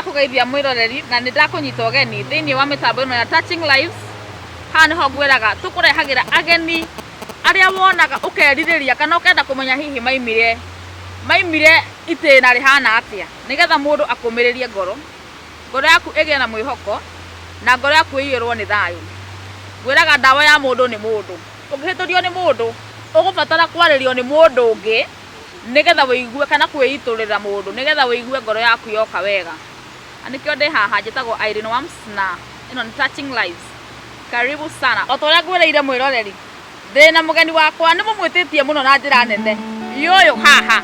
ndakũgeithia mwĩroreri na nĩ ndakũnyita ũgeni thĩinĩ wa mĩtambo ĩno ya Touching Lives haha nĩho ngwĩraga tũkũrehagĩra ageni arĩa wonaga ũkerirĩria kana ũkenda kũmenya hihi maimire maimire itĩna rĩhana atĩa nĩgetha mũndũ akũmĩrĩrie ngoro ngoro yaku ĩgĩe na mwĩhoko na ngoro yaku ĩiyũrwo nĩ thayũ ngwĩraga ndawa ya mũndũ nĩ mũndũ ũngĩhĩtũrio nĩ mũndũ ũgũbatara kwarĩrio nĩ mũndũ ũngĩ nĩgetha wĩigue kana kwĩitũrĩra mũndũ nĩgetha wĩigue ngoro yaku yoka wega na nĩkĩo ndĩ haha njĩtagwo Irene Wams na ĩno nĩ Touching Lives karibu sana o ta ũrĩa ngwĩrĩire mwĩroreri ndĩ na mũgeni wakwa nĩ mũmwĩtĩtie mũno na njĩra nene yũyũ haha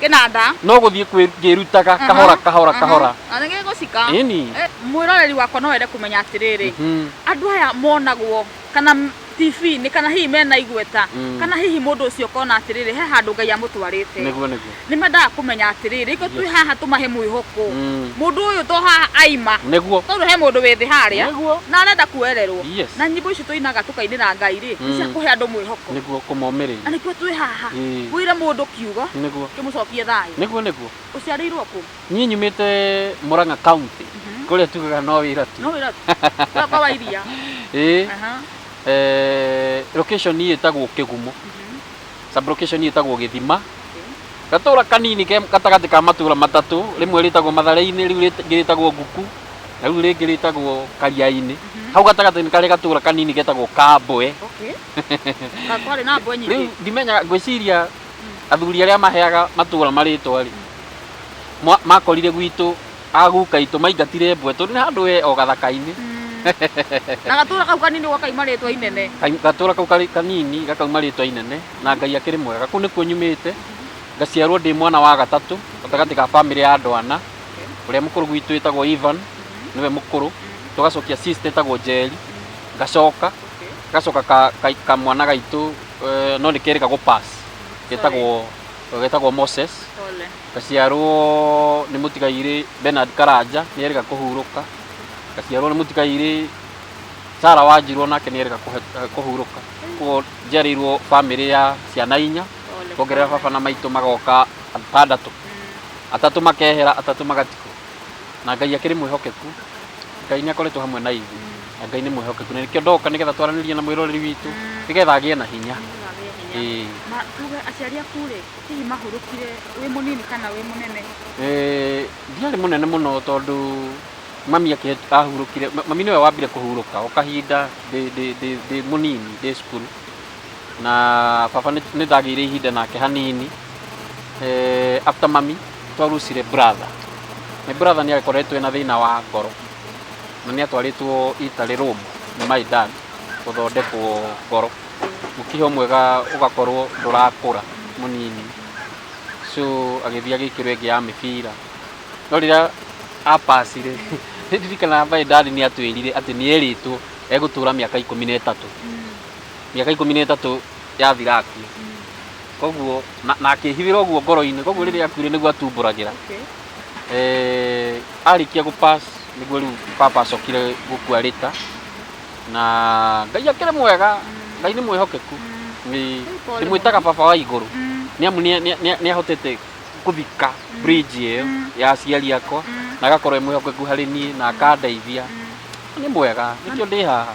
kĩnanda no gũthiĩ kwĩ- ngĩrutaga Aha, kahora kahora aha. kahora Na nĩ gĩgũcika ĩni Eh, mwĩroreri wakwa no wende kũmenya atĩrĩrĩ Mhm. andũ aya monagwo kana m- tv-inĩ kana hihi mena igweta Mm. kana hihi mũndũ ũcio ũkona atĩrĩrĩ he handũ ngai amũtwarĩte nĩguo nĩguo nĩ mendaga kũmenya atĩrĩrĩ rĩko twĩ haha tũmahe mwĩhoko Mm. mũndũ ũyũ to haha aima nĩguo tondũ he mũndũ wĩ thĩ harĩa nĩguo na arenda kuererwo Yes. na nyĩmbo ici tũinaga tũkainĩra ngai rĩ nĩ cia Mm. kũhe andũ mwĩhoko nĩguo na kũmomĩrĩria nĩkĩo twĩ haha Ĩĩ. wĩre mũndũ ki kiugo Nĩguo. kĩmũcokie thayũ Nĩguo nĩguo. ũciarĩirwo kũ Niĩ nyumĩte Murang'a County. Kũrĩa tugaga no wĩra tu. no wĩra wĩra kwa wairia Ĩĩ. Aha. Eh, location niĩ ĩtagwo Kĩgumo. Sub location niĩ ĩtagwo Gĩthima. Gatũra kanini ke gatagatĩ ka matũra matatũ, rĩmwe rĩtagwo Mathare-inĩ, rĩu rĩt- rĩngĩ rĩtagwo Nguku, na rĩu rĩngĩ rĩtagwo Karia-inĩ. Hau gatagatĩ nĩ karĩ gatũra kanini getagwo Kambwe. okay Ka kwarĩ na mbwe nyingĩ rĩu ndimenya ngwĩciria athuri arĩa maheaga matũra marĩtwa rĩ mwa- makorire gwitũ aguka itũ maingatire mbwe tondũ nĩ handũ we o gathaka-inĩ na gatũra kau kanini ũguo kaima rĩtwa inene Ka- gatũra kau karĩ kanini gakauma rĩtwa inene na ngai akĩrĩ mwega kũu nĩkuo nyumĩte ngaciarwo ndĩ mwana wa gatatũ gatagatĩ ga bamĩrĩ ya andũ ana ũrĩa mũkũrũ gwitũ ĩtagwo Ivan nĩwe mũkũrũ tũgacokia sister ĩtagwo Njeri ngacoka gacoka ka- ka- kamwana gaitũ eh, no nĩ kerĩ kagũ pass getagwo getagwo moses Pole. gaciarwo nĩ mũtigairĩ benard karanja nĩ erĩga kũhurũka gaciarwo nĩ mũtigairĩ sara wanjirwo nake nĩ erĩga kũhe- kũhurũka koguo njiarĩirwo bamĩrĩ ya ciana inya Pole, kuongerera pole. baba na maitũ magoka atandatũ atatũ makehera atatũ magatigwo na Ngai akĩrĩ mwĩhokeku. Ngai nĩ akoretwo hamwe na ithuĩ, na Ngai nĩ mwĩhokeku. Na nĩkĩo ndoka nĩgetha twaranĩrie na mwĩroreri witũ, nĩgetha agĩe na hinya. Ĩĩ. Ma tuge aciari aku rĩ, hihi mahurũkire wĩ mũnini kana wĩ mũnene? Eh, ndiarĩ mũnene mũno tondũ mami akĩhe- ahurũkire ma- mami nĩwe wambire kũhurũka o kahinda ndĩ- ndĩ- ndĩ- ndĩ mũnini ndĩ cukuru na baba nĩ- nĩndagĩire ihinda nake hanini eh, after mami Twarucire brother. Nĩ brother nĩ akoretwo ena thĩna wa ngoro na nĩ atwarĩtwo Italy Rome nĩ my dad gũthondekwo ngoro. Mũkiha ũmwe ũgakorwo ndũrakũra mũnini so agĩthiĩ agĩkĩrwo ĩngĩ ya mĩbira. No rĩrĩa a pass rĩ, nĩ ndirikanaga my dad nĩ atwĩrire atĩ nĩ erĩtwo egũtũra mĩaka ikũmi na ĩtatũ. Mĩaka ikũmi na ĩtatũ yathira akue koguo na- na akĩhithĩra ũguo ngoro-inĩ koguo rĩrĩa akuire nĩguo atumbũragĩra Okay. Eh, arĩkia gũpass nĩguo rĩu baba acokire gũkua rĩta na ngai akĩrĩ mwega ngai nĩ mwĩhokeku Nĩ- pole ndĩmwĩtaga baba wa igũrũ Mm, nĩ amu nĩ- nĩ- nĩ- nĩ ahotete kũthika bridge ĩyo ya aciari akwa na agakorwo e mwĩhokeku harĩ niĩ na akandeithia nĩ mwega nĩkĩo ndĩ haha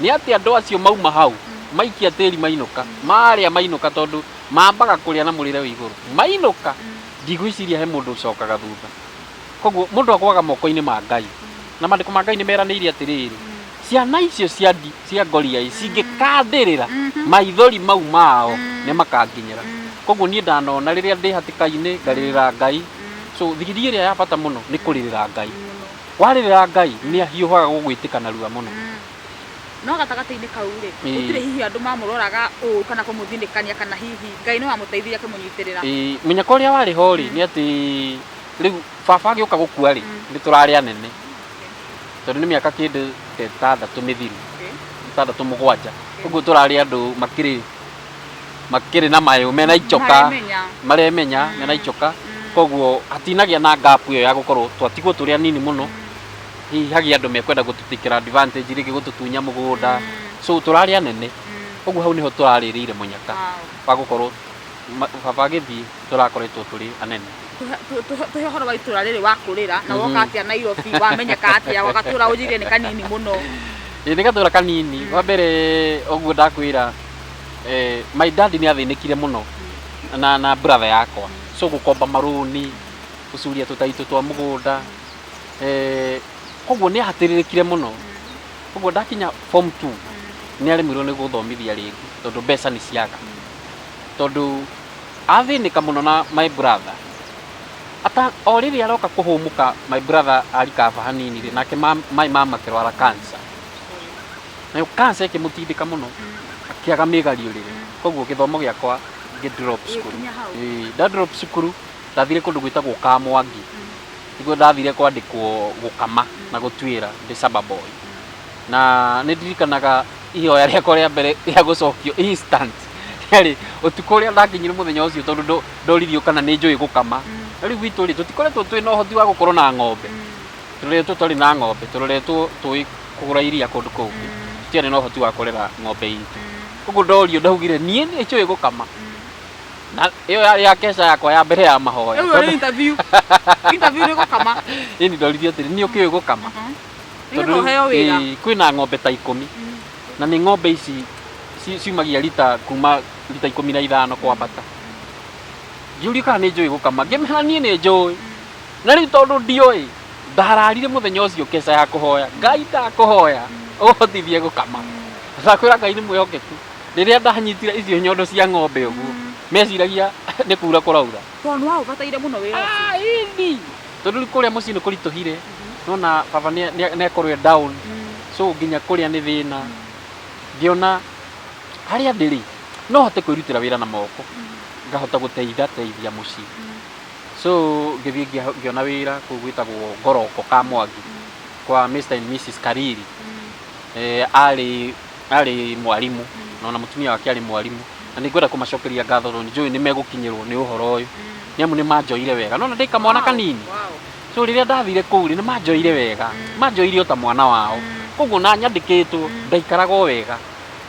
nĩ atĩ andũ acio mauma hau maikia tĩri mainũka marĩa mainũka tondũ mambaga kũrĩa na mũrĩre wĩ igũrũ mainũka ndigwĩciria he mũndũ ũcokaga thutha koguo mũndũ agwaga moko-inĩ ma Ngai na mandĩko ma Ngai nĩ meranĩire atĩrĩrĩ ciana icio cia ndi cia ngoria ĩ cingĩkandĩrĩra maithori mau mao nĩ makanginyĩra koguo niĩ ndanona rĩrĩa ndĩ hatĩka-inĩ ngarĩrĩra Ngai so thigiriri ĩrĩa ya bata mũno nĩ kũrĩrĩra Ngai. Warĩrĩra Ngai mm. nĩ ahiũhaga gũgwĩtĩka na ruwa mũno. Mm. No gatagatĩ-inĩ kau rĩ, gũtirĩ hihi andũ mamũroraga ũũ kana kũmũthinĩkania kana hihi Ngai nĩ wamũteithirie akĩmũnyitĩrĩra. Mũnyaka ũrĩa warĩ ho rĩ, mm. nĩ atĩ rĩu baba agĩũka gũkua rĩ, nĩ tũrarĩ anene tondũ nĩ mĩaka kĩndũ ĩtandatũ mĩthiru ĩtandatũ mũgwanja, ũguo tũrarĩ andũ makĩrĩ makĩrĩ na mayũ mena icoka Maremenya. maremenya mena icoka koguo hatinagĩa na gap ĩyo ya gũkorwo twatigwo tũrĩ anini mũno hihi hagĩa andũ mekwenda gũtũtikĩra advantage rĩngĩ gũtũtunya mũgũnda so tũrarĩ anene koguo hau nĩho tũrarĩrĩire mũnyaka wa gũkorwo ma- baba agĩthiĩ tũrakoretwo tũrĩ anene tuhe horo wa itũra rĩrĩ wakũrĩra na woka atĩa nairobi wamenyeka atĩa wagatũra ũnjĩrie nĩ kanini mũno Ĩĩ, nĩ gatũra kanini wa mbere ũguo ndakwĩra eh, my dad nĩ athĩnĩkire mũno na, na brother yakwa so gũkomba marũni gũcuria tũtaitũ twa mũgũnda eh, koguo nĩ ahatĩrĩrĩkire mũno koguo ndakinya form 2 nĩ aremirwo nĩ gũthomithia rĩngĩ tondũ mbeca nĩ ciaga tondũ athĩnĩka mũno na my brother ata o rĩrĩa aroka kũhũmũka my brother arikaba hanini rĩ nake ma- maĩ mamakĩrwara cancer nayo cancer ĩkĩmũtindĩka mũno akĩaga mĩgariũrĩre koguo gĩthomo gĩakwa ngĩ drop cukuru Gĩkinya hau. Ĩĩ, nda drop cukuru ndathire kũndũ gwĩtagwo kamwangi nĩkuo ndathire kwandĩkwo gũkama na gũtuĩra ndĩ saba boy na nĩ ndirikanaga ihoya rĩakwa rĩa mbere rĩa gũcokio instant rĩarĩ ũtukũ ũrĩa ndakinyire mũthenya ũcio tondũ ndo- ndoririo kana nĩ njũĩ gũkama na rĩu gwitũ rĩ tũtikoretwo twĩ na ũhoti wa gũkorwo na ng'ombe tũreretwo tũtarĩ na ng'ombe tũreretwo tũĩ kũgũra iria kũndũ kũngĩ tũtiarĩ na ũhoti wa kũrera ng'ombe itũ ũguo ndorio ndaugire niĩ nĩ njũĩ gũkama na ĩyo yarĩ ya keca yakwa ya mbere ya mahoya Rĩu ĩrĩ interview. Interview nĩ gũkama. ĩni ndoririo atĩrĩ niĩ ũkĩũĩ gũkama Nĩgetha ũheo wĩra. ĩĩ, kwĩna ng'ombe ta ikũmi na nĩ ng'ombe ici ci- ciumagia rita kuma rita ikũmi na ithano kwambata ngiũria kana nĩ njũĩ gũkama ngĩmera niĩ nĩ njũĩ na rĩu tondũ ndiũĩ Ndararire mũthenya ũcio keca ya kũhoya. Ngai ndakũhoya ũhotithie gũkama. Ndakwĩra Ngai nĩ mwĩhokeku. Rĩrĩa ndanyitire icio nyondo cia ng'ombe ũguo, meciragia nĩ kura kũraura. Tondũ nĩ waũbataire mũno wĩra ũcio. Ah, ĩni. Tondũ rĩu kũrĩa mũciĩ nĩ kũritũhire. Nona baba nĩ akorwo e down. So nginya kũrĩa nĩ thĩna. Ngĩona harĩa ndĩrĩ, no hote kwĩrutĩra wĩra na moko. Ngahota gũteitha teithia mũciĩ. So ngĩthiĩ ngĩa- ngĩona wĩra kũu gwĩtagwo ngoroko ka mwangi kwa Mr and Mrs kariri eh, arĩ arĩ mwarimũ na ona mũtumia wake arĩ mwarimũ na nĩ ngwenda kũmacokeria ngatho tondũ njũĩ nĩ megũkinyĩrwo nĩ ũhoro ũyũ nĩ amu nĩ manjoire wega nona ndĩ kamwana kanini so rĩrĩa ndathire kũu rĩ nĩ manjoire wega manjoire o ta mwana wao koguo na nyandĩkĩtwo ndaikaraga o wega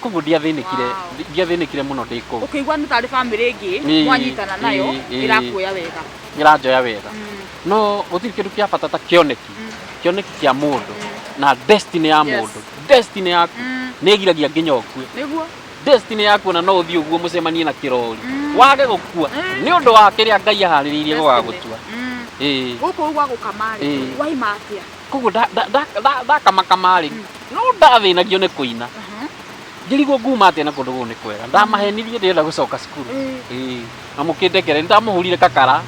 koguo ndiathĩnĩkire Wow. ndi- ndiathĩnĩkire mũno ndĩ kũu ũkĩigua nĩ tarĩ famĩlĩ ĩngĩ Ĩĩ, mwanyitana nayo ĩĩ, ĩĩ. ĩrakuoya wega ĩranjoya wega Mm, no gũtirĩ kĩndũ kĩa bata ta kĩoneki Mm. kĩoneki kĩa mũndũ na destiny ya Yes. mũndũ destiny yaku mm, nĩ ĩgiragia nginya ũkue nĩguo destiny yaku ona no ũthiĩ ũguo mũcemanie na kĩrori Mm. wage gũkua Mm. nĩ ũndũ wa kĩrĩa ngai aharĩrĩirie Destiny. gũgagũtua Mm. ĩĩ gũkũ ũgwa gũkama Ĩĩ. rĩ waima atĩa koguo nda- nda- nda- nda- ndakamakama rĩ no ndathĩnagio nĩ kũina njĩrigwo nguma atĩa na kũndũ gũkũ nĩ kwega ndamahenirie ndĩrenda gũcoka cukuru Ĩĩ. na mũkĩndekere nĩndamũhũrire kakara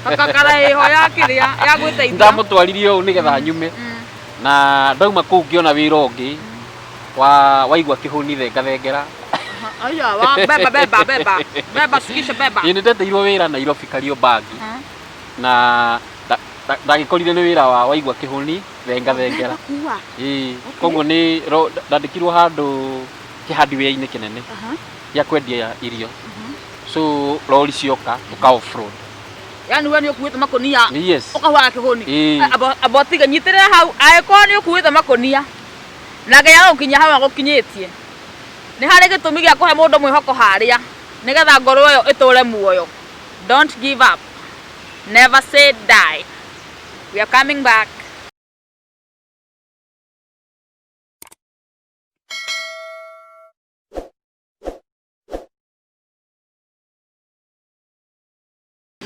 kakakara ĩho ya kĩrĩa ya gwĩteithia ndamũtwaririe ũũ nĩgetha nyume Mm. na ndauma kũu ngĩona wĩra ũngĩ wa waigua kĩhũni thengethengera Aha, aya, wa- beba beba beba beba shukisha beba ĩĩ nĩndeteirwo wĩra nairobi kariũ bangi Aha. na Nda- ndagĩkorire nĩ wĩra wa waigua kĩhũni thenga thengera Gũkua. Ĩĩ, Okay. koguo nĩ ro- nda- ndandĩkirwo handũ kĩhandiwĩra-inĩ kĩnene Aha, gĩa kwendia irio aha. so rori cioka ũka offroad Yaani we nĩ ũkuĩte makũnia Nĩ yes ũkahuaga kĩhũni Ĩĩ. A- abo- abo tiga nyitĩrĩra hau angĩkorwo nĩ ũkuĩte makũnia na nginya gũkinya hau agũkinyĩtie nĩ harĩ gĩtũmi gĩa kũhe mũndũ mwĩhoko harĩa nĩgetha ngoro ĩyo ĩtũre muoyo don't give up Never say die. We are coming back.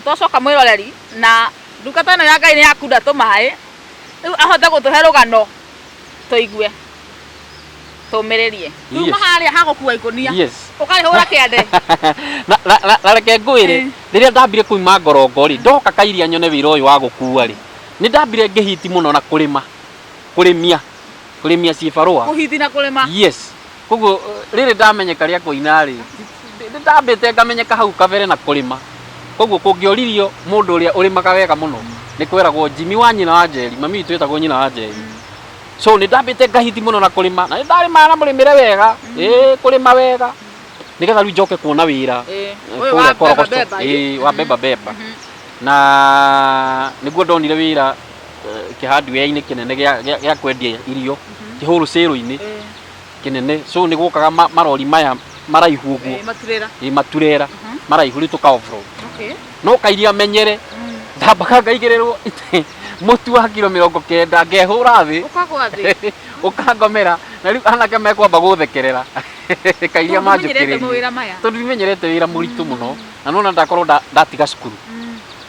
twacoka mwiroreri na ndungata ĩno ya ngai nĩ yakunda tũmaĩ rĩu ahote gũtũhe rũgano tũigue tũmĩrĩrie Yes. tuma harĩa hagũkua ikũnia yes ũkarĩhũra kĩande na, na, na, na reke ngwĩre Eh. rĩrĩa ndambire kuima ngorongo rĩ ndoka kairia nyone wĩra ũyũ wa gũkua rĩ nĩ ndambire ngĩhiti mũno na kũrĩma kũrĩmia kũrĩmia cibarũa kũhiti na kũrĩma yes koguo eh, rĩrĩ ndamenyeka rĩa kũina rĩ nĩ ndambĩte ngamenyeka hau kabere na kũrĩma koguo kũngĩoririo mũndũ ũrĩa ũrĩmaga wega mũno nĩ kweragwo jimi wa nyina wa njeri mami witũ wĩtagwo nyina wa njeri so nä ndambä te ngahiti må no na kå rä ma na nä ndarä maga na må rä mä re wega ä kå rä ma wega nä getha rä u njoke kuona wä ra Eh, Eh, ũyũ kũrĩa wa Korogoco. beba beba, Ĩĩ, eh. wa beba beba Mhm. na nĩguo ndonire wĩra eh, kĩhandiwea-inĩ kĩnene gĩa- gĩa gĩa kwendia irio kĩhũrũ cĩrũ-inĩ Eh. kĩnene so nĩ gũkaga ma- marori maya maraihu ũguo Eh, maturera ĩ maturera Mhm. maraihu rĩu tũka offroad okay no kairia menyere Mm. ndambaga ngaigĩrĩrwo itĩ mũtu wa kiro mĩrongo kenda ngehũra thĩ ũkagwa thĩ ũkangomera na rĩu anake mekwamba gũthekerera kairia Tondũ menyerete manjũkĩrĩria mawĩra maya tondũ ndimenyerete wĩra mũritũ mũno na nona ndakorwo nda- ndatiga cukuru Mm.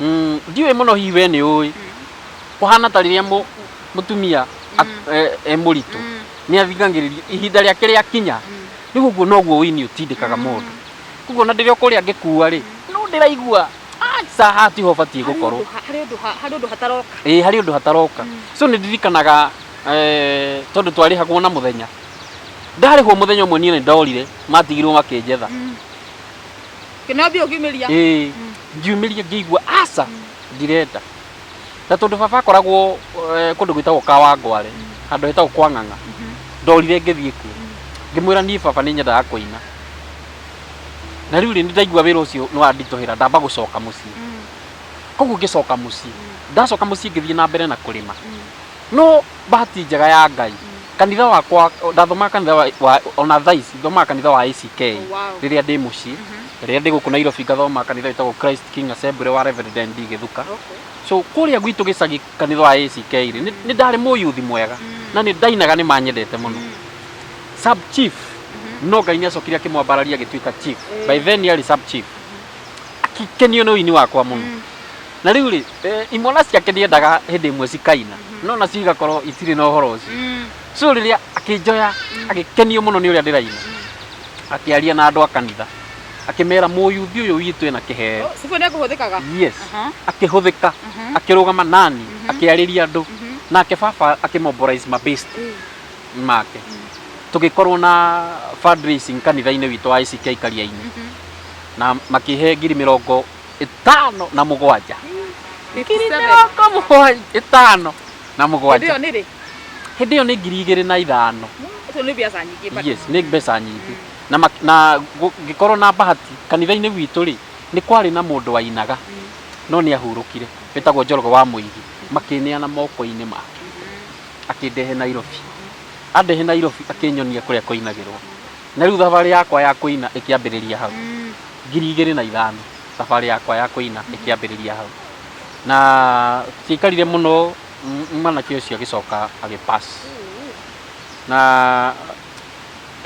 Mm, ndiũĩ mũno hihi we nĩ ũĩ kũhana ta rĩrĩa mũ- mũtumia at- e- e mũritũ nĩ athingagĩrĩria ihinda rĩake rĩa kinya rĩu ũguo noguo wĩini ũtindĩkaga mũndũ koguo na ndĩrĩa kũrĩa ngĩkua rĩ no ndĩraigua aca haha tiho batiĩ gũkorwo harĩ ũndũ ha- harĩ ũndũ hataroka ĩĩ harĩ ũndũ hataroka so nĩ ndirikanaga eh, tondũ twarĩhagwo na mũthenya ndarĩhwo mũthenya ũmwe niĩ nĩ ndorire matigirwo makĩnjetha Kĩnambia ũkiumĩria. ĩĩ ngiumĩria ngĩigua aca ndirenda na tondũ baba akoragwo eh, kũndũ gwĩtagwo kawangware handũ hetagwo kwa ng'ang'a ndorire ngĩthiĩ kuo ngĩmwĩra niĩ baba nĩ nyendaga kũina na rĩu rĩ nĩ ndaigua wĩra ũcio nĩ wanditũhĩra ndamba gũcoka mũciĩ koguo ngĩcoka mũciĩ ndacoka mũciĩ ngĩthiĩ na mbere na kũrĩma no bahati njega ya ngai kanitha wakwa ndathomaga kanitha wa, wa, ona thaa ici thomaga kanitha wa ACK Oh, wow. rĩrĩa ndĩ mũciĩ rĩrĩa ndĩ gũkũ Nairobi ngathoma kanitha wĩtagwo Christ King Assembly wa Reverend ND Gĩthuka Okay. so kũrĩa gwitũ gĩcagi kanitha wa ACK rĩ nĩ nĩ ndarĩ mũyuthi mwega na nĩ ndainaga nĩ manyendete mũno sub chief no ngai nĩ acokire akĩmwambararia agĩtuĩka chief by then yarĩ sub chief akĩkenio nĩ ũini wakwa mũno na rĩu rĩ eh, imwana ciake ndiendaga hĩndĩ ĩmwe cikaina no nacio igakorwo itirĩ na ũhoro ũcio Mm. so rĩrĩa akĩnjoya agĩkenio mũno nĩ ũrĩa ndĩraina akĩaria na andũ a kanitha akĩmera mũyuthi ũyũ witũ ena kĩheo Oh, Sibu nĩ kũhũthĩkaga. yes Aha. akĩhũthĩka Mhm. akĩrũgama nani akĩarĩria andũ Mhm. nake baba akĩmobilize mabest Mm. make tũgĩkorwo na fundraising kanitha-inĩ witũ wa ICK Kariaini Mhm. na makĩhe ngiri mĩrongo ĩtano na mũgwanja ngiri mĩrongo mũgwanja ĩtano na mũgwanja hĩndĩ ĩyo nĩ ngiri igĩrĩ na ithano yes nĩ mbeca nyingĩ na mak- na ngũ- ngĩkorwo na bahati kanitha-inĩ witũ rĩ nĩ kwarĩ na mũndũ wainaga no nĩ ahurũkire wĩtagwo njoroge wa mũigi makĩneana moko-inĩ make akĩndehe nairobi andehe nairobi akĩnyonia kũrĩa kwainagĩrwo Na rĩu thabarĩ yakwa ya kũina ĩkĩambĩrĩria hau ngiri igĩrĩ na ithano thabarĩ yakwa ya kũina ĩkĩambĩrĩria hau na ciaikarire mũno m- mwanake ũcio agĩcoka agĩpass na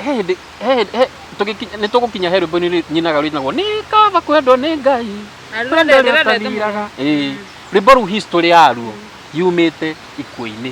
he hĩndĩ he hĩndĩ he- tũgĩkinya- nĩ tũgũkinya he rwĩmbo nĩ nyinaga rwĩtagwo nĩ kaba kwendwo nĩ ngai Na rwĩmbo kwendwo rwendete mũno. rũtathiraga Ĩĩ. rwĩmbo rũu history yaruo yumĩte ikuũ-inĩ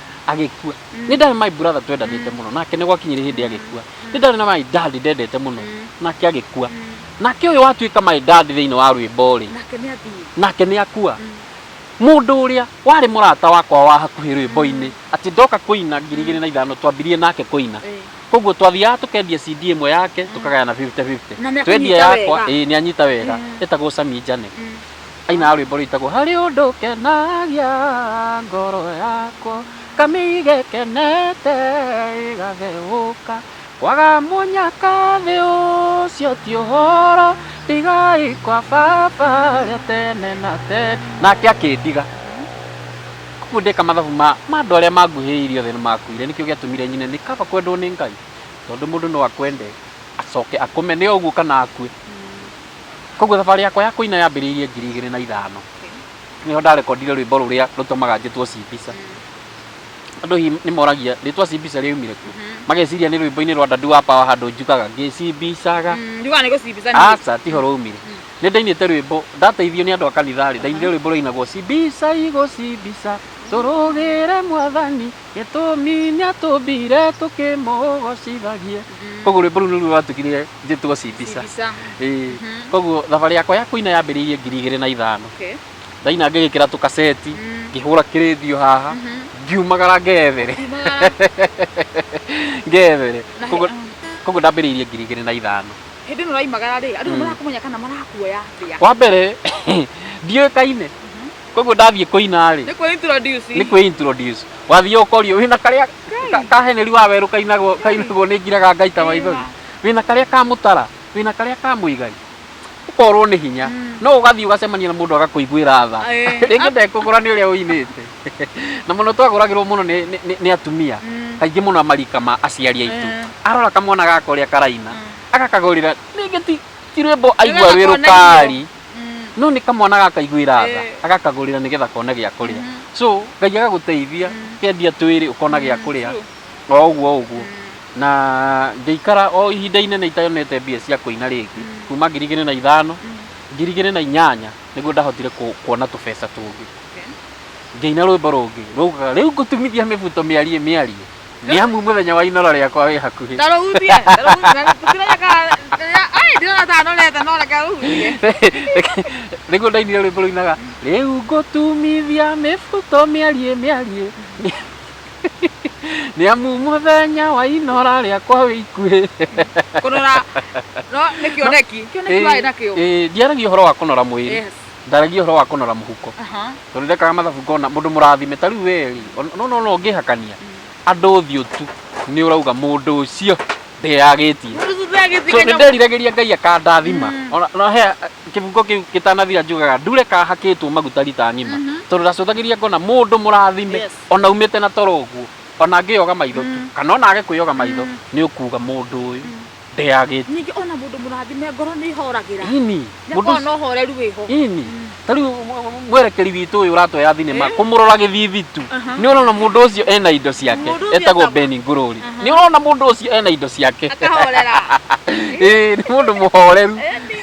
agĩkua nĩ ndarĩ my brother twendanĩte mũno nake nĩ gwakinyire hĩndĩ agĩkua nĩ ndarĩ na my dad ndendete mũno nake agĩkua nake ũyũ watuĩka my dad thĩinĩ wa rwĩmbo rĩ nake nĩ athiĩ nake nĩ akua mũndũ ũrĩa warĩ mũrata wakwa wa hakuhĩ rwĩmbo-inĩ atĩ ndoka kũina ngiri igĩrĩ na ithano twambirie nake kũina Eh. koguo twathiaga tũkendia CD ĩmwe yake tũkagayana 50-50 Na nĩ akũnyita twendia yakwa wega. ĩĩ nĩ anyita wega ĩtagwo Sami Njane Ainaga rwĩmbo rwĩtagwo harĩ ũndũ kenagia ngoro yakwa kamĩige kenete ĩgatheũka kwaga mũnyaka thĩ ũcio ti ũhoro ndigai kwa baba rĩa tene na tene nake akĩndiga koguo ndeka mathabu ma andũ arĩa manguhĩrĩirie othe nĩ makuire nĩkĩo gĩatũmire nyine nĩ kaba kwendwo nĩ Ngai tondũ mũndũ no akwende acoke akũmene ũguo kana akue. Kwoguo thabarĩ yakwa ya kũina yambĩrĩirie ngiri igĩrĩ na ithano. Nĩho ndarekondire rwĩmbo rũrĩa rũtũmaga njĩtwo Cibica. Andũ hihi nĩ moragia rĩtwa Cibica rĩaumire kũ? Mageciria nĩ rwĩmbo-inĩ rwa Ndadu wa Power handũ njugaga ngĩcibicaga. Njugaga nĩ gũcibica niĩ. Aca tiho rwaumire. Nĩ ndainĩte rwĩmbo, ndateithio nĩ andũ a kanitha-rĩ, ndainire rwĩmbo rwainagwo Cibica igũcibica tũrũgĩre Mwathani. Gĩtũmi nĩatũmbire tũkĩmũgocithagie. Koguo rwĩmbo rũu nĩruo rwatugire njĩtwo Cibica. Cibica. Ĩĩ. Mhm. Koguo thabarĩ yakwa ya kũina yambĩrĩirie ngiri igĩrĩ na ithano. Okay. Ndaina ngĩgĩkĩra tũkaceti, Mm. ngĩhũra kĩrĩthio haha, Mhm. ngiumagara ngethere. Kumagara. Ngethere. Na he- Koguo ah. koguo ndambĩrĩirie ngiri igĩrĩ na ithano. Hĩndĩ ĩno ũraimagara rĩ, andũ nĩ Mm. marakũmenya kana marakuoya atĩa? Wa mbere ndiũĩkaine. koguo ndathiĩ kũina rĩ Nĩ kwĩ introduce. nĩ kwĩ introduce wathiĩ ũkorio wĩna karĩa ka- ka heneri wa werũ kainagwo kainagwo nĩ ngiraga ngaita maithori wĩna karĩa ka mũtara wĩna karĩa ka mũigari ũkorwo nĩ hinya no ũgathiĩ ũgacemania na mũndũ agakũiguĩra tha Ĩĩ. rĩngĩ ndekũgũra nĩ ũrĩa ũinĩte na mũno twagũragĩrwo mũno nĩ- nĩ- nĩ- nĩ atumia Mm. kaingĩ mũno amarika ma aciari aitũ Ĩĩ. arora kamwana gaka ũrĩa karaina agakagũrĩra rĩngĩ ti ti rwĩmbo aigua Nĩgetha rwĩ kone rũkari Mm. no nä kamwana gakaiguä ra tha Eh. agakagå rä ra nä getha kona gä a kå rä a so ngai agagå teithia kendia twä rä å kona gä a kå rä a true. o å guo å guo na ngĩikara o ihinda inene itanete mbia cia kũina rĩngĩ kuma ngiri igĩrĩ na ithano ngiri igĩrĩ na inyanya nĩguo ndahotire ku- kuona tũbeca tũngĩ Okay. ngĩina rwĩmbo rũngĩ rwaugaga rĩu ngũtumithia mĩbuto mĩarie mĩarie Nĩ amu mũthenya wa inoro rĩakwa wĩ hakuhĩ. Na rũhutie, rũhutie, na tũkĩranya kana, ai, ndĩrona ta anorete, no reke rũhutie. Nĩguo ndainire rwĩmbo rũinaga, rĩu ngũtumithia mĩbuto mĩariĩ mĩariĩ. Nĩ amu mũthenya wa inora rĩakwa wĩ ikuhĩ. Kũnora, no, nĩ kĩoneki, kĩoneki warĩ nakĩo. Ĩĩ, ndiaragia ũhoro wa kũnora mwĩrĩ. Yes. ndaragia horo wa kunora muhuko aha tondu ndekaga mathabu ngona mundu murathime ta riu we ri no no no ngihakania andu thiu tu ni urauga mundu ucio ndeyagitie Mũthuthuria so agĩthika nĩ nderiragĩria ngai akandathima Mm. Ona- ona he kĩbungo kĩu gĩtanathira njugaga ndure kahakĩtwo maguta rita ng'ima Mhm. tondũ ndacũthagĩria ngona mũndũ mũrathime Yes. ona umĩte na toro ũguo ona angĩyoga maitho tu Mm. kana ona age kwĩyoga maitho Mm. nĩ ũkuga mũndũ ũyũ ndeyagĩte ningĩ ona mũndũ mũrathime ngoro nĩ ihoragĩra ini mũndũ nĩkorwo no horeru wĩho ini ta rĩu mwerekeri witũ ũyũ ũratoya thinema Eh. kũmũrora gĩthithi tu Aha. nĩ ũrona mũndũ ũcio ena indo ciake Mũndũ ũcio etagwo etagwo- beni ngũrũri Aha. nĩ ũrona mũndũ ũcio ena indo ciake akahorera Ĩĩ, nĩ mũndũ mũhoreru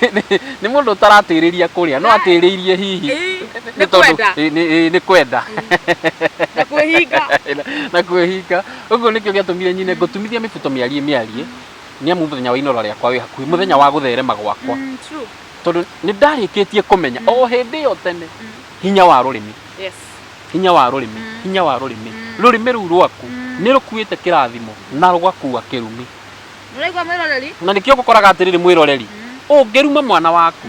Ĩni. nĩ mũndũ ũtaratĩrĩria kũrĩa no Ai. atĩrĩirie hihi Ĩĩ, nĩ nĩ tondũ- kwenda. Ĩĩ, nĩ- ĩĩ, nĩ kwenda na kwĩhinga na kwĩhinga Ũguo nĩkĩo gĩatũmire nyine ngũtumithia mĩbuto mĩariĩ mĩariĩ nĩ amu mũthenya wa inora rĩakwa wĩ hakuhĩ, mũthenya wa gũtherema gwakwa, Mm, true. tondũ nĩ ndarĩkĩtie kũmenya o hĩndĩ ĩyo tene hinya wa rũrĩmĩ Yes. hinya wa rũrĩmĩ hinya wa rũrĩmĩ rũrĩmĩ rũu rwaku nĩ rũkuĩte kĩrathimo na rũgakua kĩrumi Ũraigua mwĩroreri? na nĩkĩo gũkoraga atĩrĩrĩ mwĩroreri ũngĩruma mwana waku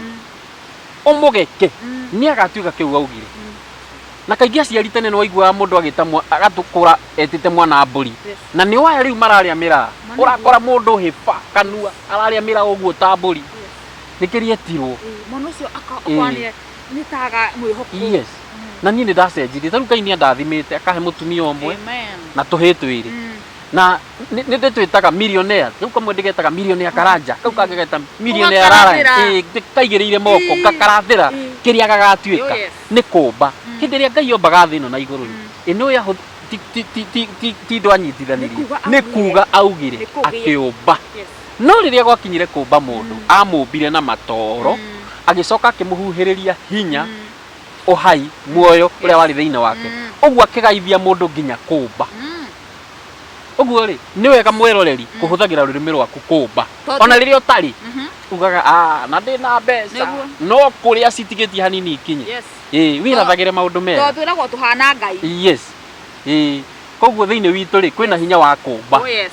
ũmũgeke nĩ agatuĩka kĩu augire na kaingĩ aciari tene nĩ waiguaga mũndũ agĩta mwa- agatũkũra etite mwana wa mbũri Yes. na nĩ waya rĩu mararĩa mĩraa Mwana ũrakora mũndũ hĩba kanua ararĩa mĩraa ũguo ta mbũri nĩkĩria etirwo Ĩĩ, mwana ũcio akorwo nĩ nĩ taga mwĩhoko yes na niĩ nĩ ndacenjirie tarĩu ngai nĩ andathimĩte akahe mũtumia ũmwe Amen. na tũhĩ twĩrĩ Mm. na nĩ nĩ ndĩtwĩtaga millionaire rĩu kamwe ndĩgetaga millionaire karanja kau kangĩ geta millionaire Ũgakarathĩra. rara Ĩĩ, ndĩ- kaigĩrĩire moko Ĩĩ. ngakarathĩra Ĩĩ. kĩrĩa gagatuĩka Oh, yes. nĩ kũmba Mm. hĩndĩ ĩrĩa ngai ombaga thĩ ĩno na igũrũ Mm. ĩno ya ti- ti- ti- ti- ti- ti ndwa nyitithanirie Nĩ nĩ kuuga augire. kuuga augire Nĩ kũgĩa. akĩũmba Yes. no rĩrĩa gwakinyire kũmba mũndũ amũmbire na matoro Mm. agĩcoka akĩmũhuhĩrĩria hinya Mm. ũhai muoyo ũrĩa warĩ thĩinĩ wake Mm. ũguo akĩgaithia mũndũ nginya kũmba Mm. ũguo rĩ nĩ wega mwĩroreri kũhũthagĩra rũrĩmĩ rwaku kũmba Tondũ- ona rĩrĩa ũtarĩ Mhm. ugaga "Ah, na ndĩ na mbeca Nĩguo. no kũrĩa citigĩtie hanini ikinye Yes. ĩĩ wĩrathagĩre maũndũ tondũ mega twĩragwo tũhana ngai yes ĩĩ koguo thĩinĩ witũ rĩ kwĩna hinya wa kũmba Oh, yes.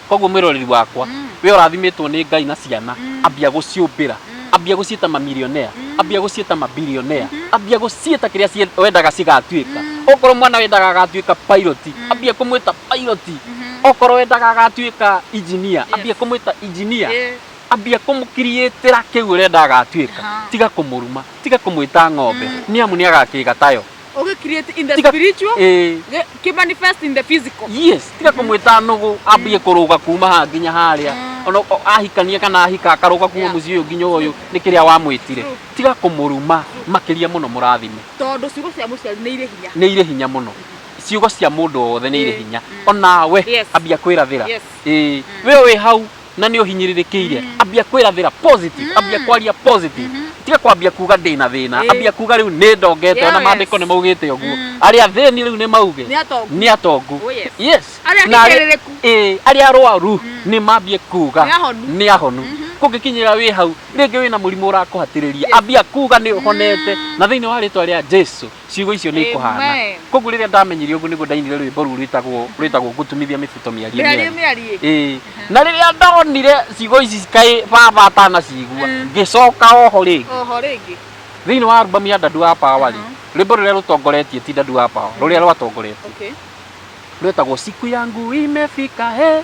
koguo mwĩroreri wakwa Mm. we ũrathimitwo nĩ ngai na ciana Mm. ambia gũciũmbĩra Mm. ambia gũciĩta mamilionea Mm. ambia gũciĩta mabilionea Mhm. ambia gũciĩta kĩrĩa cie- wendaga cigatuĩka Mm. okorwo mwana wendaga agatuĩka pilot Mm. ambia kũmwĩta pilot Mhm. okorwo wendaga agatuĩka engineer Yes. ambia kũmwĩta engineer Ĩĩ. ambia kũmũkiriĩtĩra kĩu ũrenda agatuĩka Aha. tiga kũmũruma tiga kũmwĩta ng'ombe nĩ amu nĩ agakĩga tayo Okay, create in the Tiga- spiritual, Eh, ge- ki manifest in the physical. yes tiga kũmwĩta nũgũ ambie kũrũga kuma haha nginya harĩa ona o- ahikania kana ahika akarũga kuma Yeah. mũciĩ ũyũ nginya ũyũ nĩ kĩrĩa wamwĩtire True. tiga kũmũruma makĩria mũno mũrathime Tondũ ciugo cia mũciari nĩ irĩ hinya. nĩ irĩ hinya mũno ciugo cia mũndũ wothe nĩ irĩ Eh, hinya mm. onawe Yes. ambia kwĩrathĩra Yes. Eh, we wĩ hau na nĩ ũhinyĩrĩrĩkĩire ambia kwĩrathĩra positive ambia kwaria positive tiga kwambia kuga ndĩ na thĩna Ĩĩ. ambia kuga rĩu nĩ ndongete ona Yes. maandĩko nĩ maugĩte ũguo Mm. arĩa athĩni rĩu nĩ mauge Nĩ atongu. nĩ atongu Oh, yes. yes Arĩa Na arĩa- ahinyĩrĩrĩku. Ĩĩ, arĩa arwaru nĩ mambie kuga Nĩ ahonu. nĩ ahonu kũngĩkinyĩra wĩ hau rĩngĩ wĩna mũrimũ ũrakũhatĩrĩria ambia kuga nĩ ũhonete na thĩinĩ wa rĩtwa rĩa jesu ciugo icio nĩ ikũhaana Amen. koguo rĩrĩa ndamenyire ũguo nĩguo ndainire rwĩmbo rũu rwĩtagwo rwĩtagwo ngũtumithia mĩbuto mĩarie Mĩarie mĩarie mĩarie. Ĩĩ. na rĩrĩa ndonire ciugo ici kaĩ baba atanacigua Mm. ngĩcoka oho rĩngĩ Oho rĩngĩ. thĩinĩ wa albamu ya ndadu wa pawa rĩ Mhm. rwĩmbo rũrĩa rũtongoretie ti ndadu wa pawa rũrĩa rwatongoretie Okay. rwĩtagwo siku yangu imefika he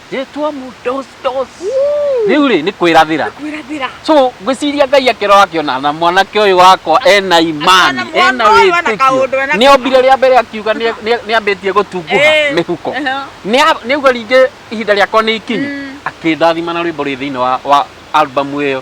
Rĩtwa mu dos dos. Rĩu rĩ nĩ kwĩrathĩra. Kwĩrathĩra. So ngwĩciria Ngai akĩrora akĩona na mwanake ũyũ wakwa ena imani, Akĩona ena mwana ũyũ ena kaũndũ, wĩtĩkio. ena Nĩ ombire rĩa mbere akiuga nĩ nĩ- nĩ ambĩtie gũtunguha Eh. mĩhuko. Ehe. Nĩa- Nĩauga ningĩ ihinda rĩakwa nĩ ikinyu. Mm. Akĩndathima na rwĩmbo rwĩ thĩinĩ wa wa albamu ĩyo.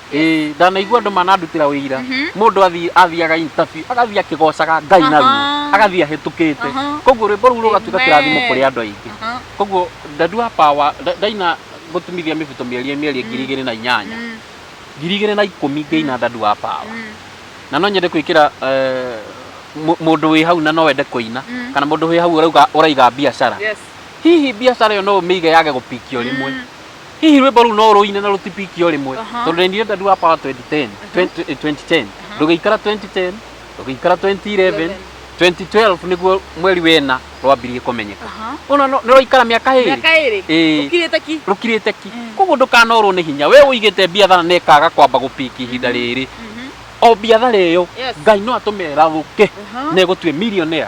Ĩĩ, ndanaigua andũ manandutĩra wĩira mũndũ athiĩ- athiaga interview agathiĩ akĩgocaga ngai na ruo Aha. agathiĩ ahĩtũkĩte Aha. koguo rwĩmbo rũu rũgatuĩka Amen. kĩrathimo kũrĩ andũ aingĩ Aha. koguo ndandua power nda- ndaina gũtumithia mĩbuto mĩerie mĩerie ngiri igĩrĩ na inyanya Mm, ngiri igĩrĩ na ikũmi ngĩina ndandua power mm, na no nyende gwĩkĩra eh, mũ- mũndũ wĩ hau na no wende kũina Mm. kana mũndũ wĩ hau ũrauga- ũraiga biacara yes. hihi biacara ĩyo no ũmĩige yage gũpikio rĩmwe Mm. hihi rwĩmbo rũu no rũine na rũtipiki o rĩmwe Aha. tondũ nĩ ndĩrenda ndua power 2010 20 eh, 2010 ndũgĩikara 2010 ndũgĩikara 2011 2012 nĩguo mweri wena rwambirie kũmenyeka Aha. ona no- nĩ rwaikara mĩaka ĩrĩ mĩaka ĩrĩ Ĩĩ. ũkirĩte ki rũkirĩte ki Mm. koguo ndũkanorwo nĩ hinya we ũigĩte biathara na ĩkaga kwamba gũpiki ihinda rĩrĩ Mhm. o biathara ĩyo Yes. ngai no atũme ĩrathũke Aha. na ĩgũtue millionaire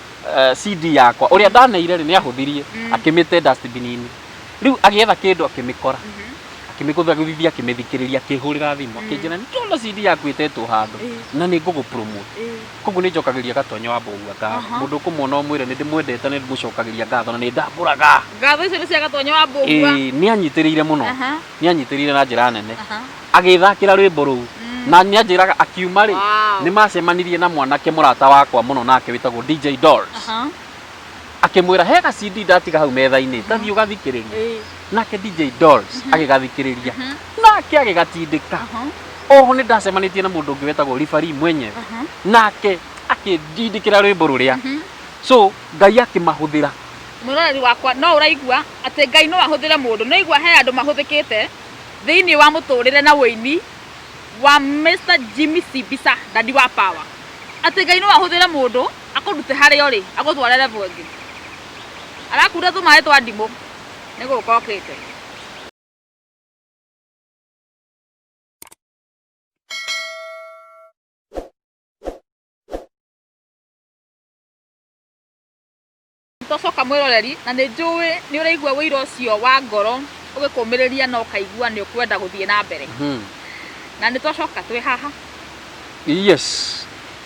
eh, CD yakwa ũrĩa ndaneire rĩ nĩ ahũthirie akĩmĩte dustbin-inĩ rĩu agĩetha kĩndũ akĩmĩkora akĩmĩgũthia gũthithia akĩmĩthikĩrĩria akĩhũrĩra thimũ akĩnjĩra nĩ ndona CD yaku ĩtetwo handũ na nĩ ngũgũ promote koguo nĩ njokagĩria gatonyo wa mbũgua ngatho mũndũ ũkũmuona ũmwĩre nĩ ndĩmwendete na nĩ ndĩmũcokagĩria ngatho na nĩ ndambũraga ngatho icio nĩ cia gatonyo wa mbũgua Ĩĩ, nĩ anyitĩrĩire mũno Aha. nĩ anyitĩrĩire na njĩra nene Aha. Agĩĩthakĩra rwĩmbo rũu. Na nĩ anjĩraga akiuma-rĩ, Wow. nĩ maacemanirie na mwanake mũrata wakwa mũno nake wĩtagwo DJ Dolls. Aha. Akĩmwĩra, he ga CD ndatiga hau metha-inĩ, ta thiĩ ũgathikĩrĩrie. Ĩĩ. Nake DJ Dolls agĩgathikĩrĩria. Nake agĩgatindĩka. Aha. Oho nĩ ndacemanĩtie na mũndũ ũngĩ wĩtagwo Ribari mwenyewe. Aha. Nake akĩndindĩkĩra rwĩmbo rũrĩa. So, Ngai akĩmahũthĩra. Mwĩroreri wakwa, no ũraigua atĩ Ngai no ahũthĩre mũndũ. Nĩ ũraigua he andũ mahũthĩkĩte. Thĩinĩ wa mũtũrĩre na ũini wa Mister Jimmy Cibisa Daddy wa power atĩ Ngai no ahũthĩre mũndũ akũrute harĩa ũrĩ agũtware level ĩngĩ. Arakuura tũmaĩ twa ndimũ nĩ gũka okĩte. Tocoka mwĩroreri, na nĩ njũĩ nĩ ũraigua wĩira ũcio wa ngoro ũgĩkũmĩrĩria na ũkaigua nĩ ũkwenda gũthiĩ na mbere. Mhm. Na nĩ twacoka twĩ haha. Yes.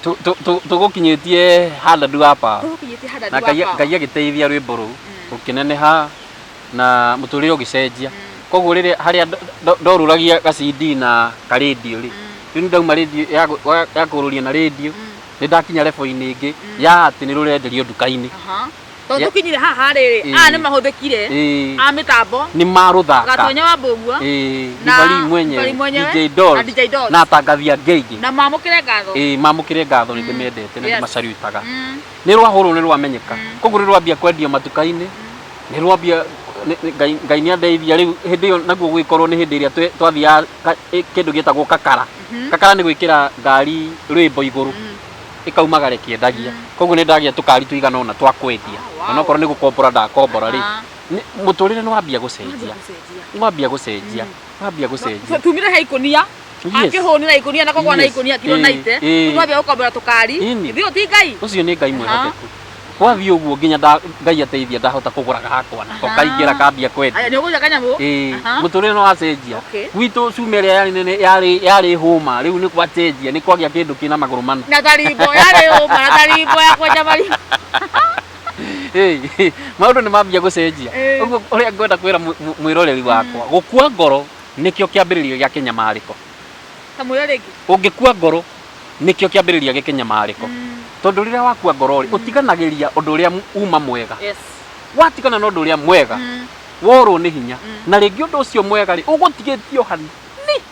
Tu- tu- tu- Tũgũkinyĩtie handũ ndu hapa. Tũgũkinyĩtie handa Na ndu Ngai hapa. Ngai agĩteithia rwĩmbo rũu ũkĩneneha na mũtũrĩre ũgĩcenjia. Koguo rĩrĩa harĩa ndo- ndo- ndorũragia gacindi na karĩndiũ rĩ, rĩu ndauma rĩndiũ ya gũ- wa- ya kũrũria na rĩndiũ nĩ ndakinya level-inĩ ĩngĩ ya atĩ nĩ rũrenderio nduka-inĩ Aha. Tondũ Yeah. tũkinyire haha rĩrĩ, Eh. aya nĩ mahũthĩkire Ĩĩ. a mĩtambo, nĩ marũthaka Gatonya wa Mbũguo Ĩĩ, na Divali Divali mwenyewe mwenyewe, DJ na Dolls DJ Dolls. na atangathi angĩ aingĩ na mamũkĩre ngatho. Ĩĩ, mamũkĩre ngatho nĩ ndĩmendete na Yes. ndĩmacarutaga Mm. nĩ rwahũrwo nĩ rwamenyeka koguo nĩ rwambia kwendio matuka-inĩ nĩ rwambia nĩ- nĩ- Ngai- ngai nĩ andeithia rĩu hĩndĩ ĩyo naguo gũgĩkorwo nĩ hĩndĩ ĩrĩa twe- twathiaga ka- ĩ- kĩndũ gĩtagwo kakara kakara nä gwä kä ra ngari rwä mbo igå rå ĩkaumaga rĩkĩendagia koguo nĩ ndagia tũkari tũigana ũna twa kwendia onokorwo nĩ gũkombora ndakombora rĩ Aha. nĩ- mũtũrĩre nĩ wambia gũcenjia nĩ wambia gũcenjia nĩ wambia gũcenjia tumire he ikunia Yes. akĩhũnĩra ikunia na kogwana Yes. ikunia kiro Ĩĩ, naite ĩĩ. rĩu twambia gũkombora tũkari Ĩni. ithiĩ ti ngai ũcio nĩ ngai Aha. mwĩhokeku Gwathiĩ ũguo nginya nda- Ngai ateithia ndahota kũgũra gakwa nako Aha. kaingĩra kambia kwendia. Aya nĩ ũgũria kanyamũ? Ĩĩ, Aha. mũtũrĩre nĩ wacenjia Okay. gwitũ cuma ĩrĩa yarĩ nene yarĩ yarĩ hũma rĩu nĩ gwacenjia nĩ kwagĩa kĩndũ kĩna magũrũ mana Na tarimbo yarĩ ũma na tarimbo ya kwenja marima. Hey, maũndũ nĩ mambia gũcenjia Ĩĩ. ũguo ũrĩa ngwenda kwĩra mw- mw- mwĩroreri wakwa gũkua ngoro nĩkĩo kĩambĩrĩria gĩa kĩnyamarĩko Kamũira rĩngĩ. ũngĩkua ngoro nĩkĩo kĩambĩrĩria gĩ kĩnyamarĩko tondũ rĩrĩa wakua ngoro rĩ ũtiganagĩria ũndũ ũrĩa mu- uma mwega Yes. watigana na ũndũ ũrĩa mwega worwo nĩ hinya na rĩngĩ ũndũ ũcio mwega rĩ ũgũtigĩtio hanini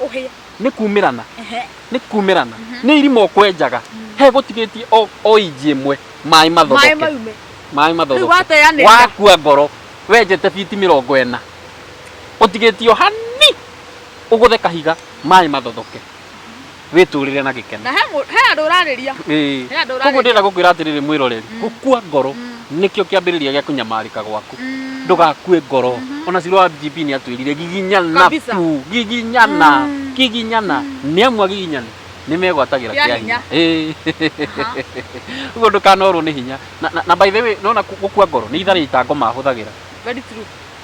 Ũhĩa. nĩ kumĩrana Ehe. nĩ kumĩrana nĩ irima ũkwenjaga he gũtigĩtie o- o inji ĩmwe maĩ Maĩ mathoke maume. maĩ Rĩu mathoke wateanĩria. wakua ngoro wenjete biti mĩrongo ĩna ũtigĩtio hani ũgũthe kahiga maĩ mathothoke wĩtũrĩre na gĩkeno Na he mũ- he andũ ũrarĩria. Ĩĩ. He andũ koguo ũrarĩria. ndĩrenda gũkwĩra atĩrĩrĩ mwĩroreri gũkua ngoro nĩkĩo kĩambĩrĩria gĩa kũnyamarĩka gwaku ndũgakue ngoro ona ciro wa mgp nĩ atwĩrire giginyana Kabisa. tu giginyana giginyana nĩ amu agiginyani nĩ megwatagĩra Kĩa kĩa hinya. hinya Aha. ũguo ndũkanorwo nĩ hinya Na- na- na by the way nona gũkua ngoro nĩ itharĩ itango mahũthagĩra Very true.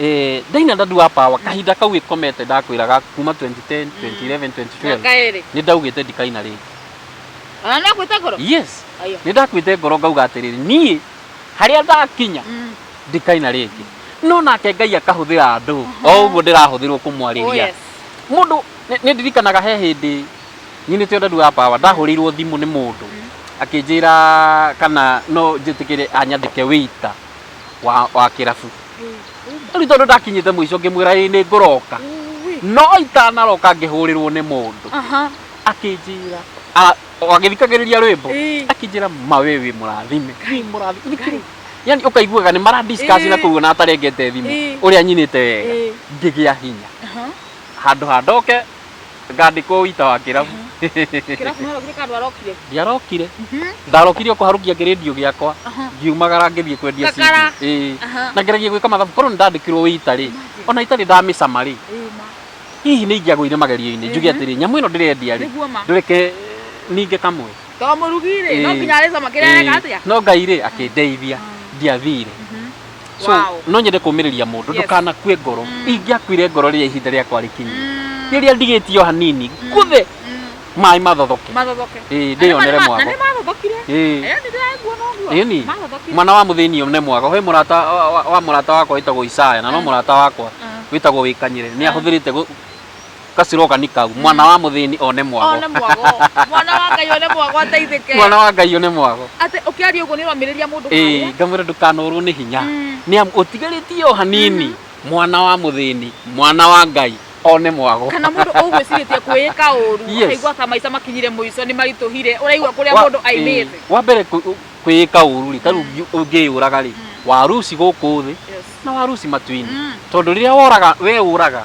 Eh, ndaina ndadu wa power kahinda kau ikomete ndakwiraga kuma 2010 2011 2012 kaere ni ndaugite ndikaina ringi ona no kwita koro yes ayo ni ndakwite ngoro ngauga atiriri nie haria ndakinya Mm. ndikaina ringi no nake ngai akahuthira andu o uguo ndirahuthirwo Oh, kumwariria yes. mundu ni ndirikanaga he hindi nyinite ndadu wa power ndahurirwo thimu ni mundu akinjira kana no njitikire anyandike wita wa wa kĩrabu rĩu nĩ tondũ ndakinyĩte mũico ngĩmwĩra ĩ nĩ ngũroka no itanaroka ngĩhũrĩrwo nĩ mũndũ aha akĩnjĩra a- o agĩthikagĩrĩria rwĩmbo Ĩĩ. akĩnjĩra ma we wĩ mũrathime wĩ mũrathime Ngai. yani ũkaiguaga nĩ mara discuss Ĩĩ. na kũu na atarengete thimũ Ĩĩ. ũrĩa nyinĩte wega Ĩĩ. ngĩgĩa hinya aha handå ha ndoke ngandĩkwo wĩita wa kĩrabu kĩrabu no rokire kandũ arokire ndiarokire ndarokire o kũharũkia kĩrĩndio gĩakwa Aha. ngiumagara ngĩthiĩ kwendia CD. Ngakara. Ĩĩ. Aha. na ngeragia gwĩka mathabu korwo nĩ ndandĩkirwo wĩita rĩ ona itarĩ ndamĩcama rĩ Ĩĩ, ma. hihi nĩ ingĩagũire magerio-inĩ njuge Ehe. atĩrĩ nyamũ ĩno ndĩrendia rĩ Nĩguo ma. ndũreke ninge kamwe to mũrugi rĩ no Ĩĩ. nginya arĩcama kĩrĩa areka Ĩĩ. atĩa no ngai rĩ akĩndeithia ndiathire so Wow. no nyende kũmĩrĩria mũndũ Yes. ndũkanakue ngoro Mm. ingĩakuire ngoro rĩrĩa ihinda rĩakwa rĩkinyi Mm. rĩrĩa ndigĩtio hanini ngũthe Mm. maĩ mathothoke Mathothoke. Ĩĩ, ndĩyonere Na nĩ ma- mwago. Na nĩ mathothokire. Ĩĩ. Eh, nĩ ndĩraigua noguo. Ĩni. Mathothokire. mwana wa mũthĩni ũyũ nĩ mwaga he mũrata wa- wa- wa mũrata wakwa wĩtagwo Isaya na no Mm. mũrata wakwa Mm. wĩtagwo wĩkanyire nĩ Mm. ahũthĩrĩte gũ- ka slogan kau mwana wa muthini one mwago one mwago mwana wa ngai one mwago ateithike mwana wa ngai one mwago ate ukiaria uguo ni uramiriria mundu eh ngamwira ndukanorwo ni hinya mm. ni am utigaritie o hanini mm -hmm. mwana wa muthini mwana wa ngai one mwago kana mundu ugwiciritie kwiyika uru aigua ta maica makinyire muico ni marituhire uraigua kuria mundu aimite eh, wa mbere kwiyika uru ri taru mm. ungiyuraga ri mm. waruci guku thi na waruci matuini mm. tondu riria woraga we uraga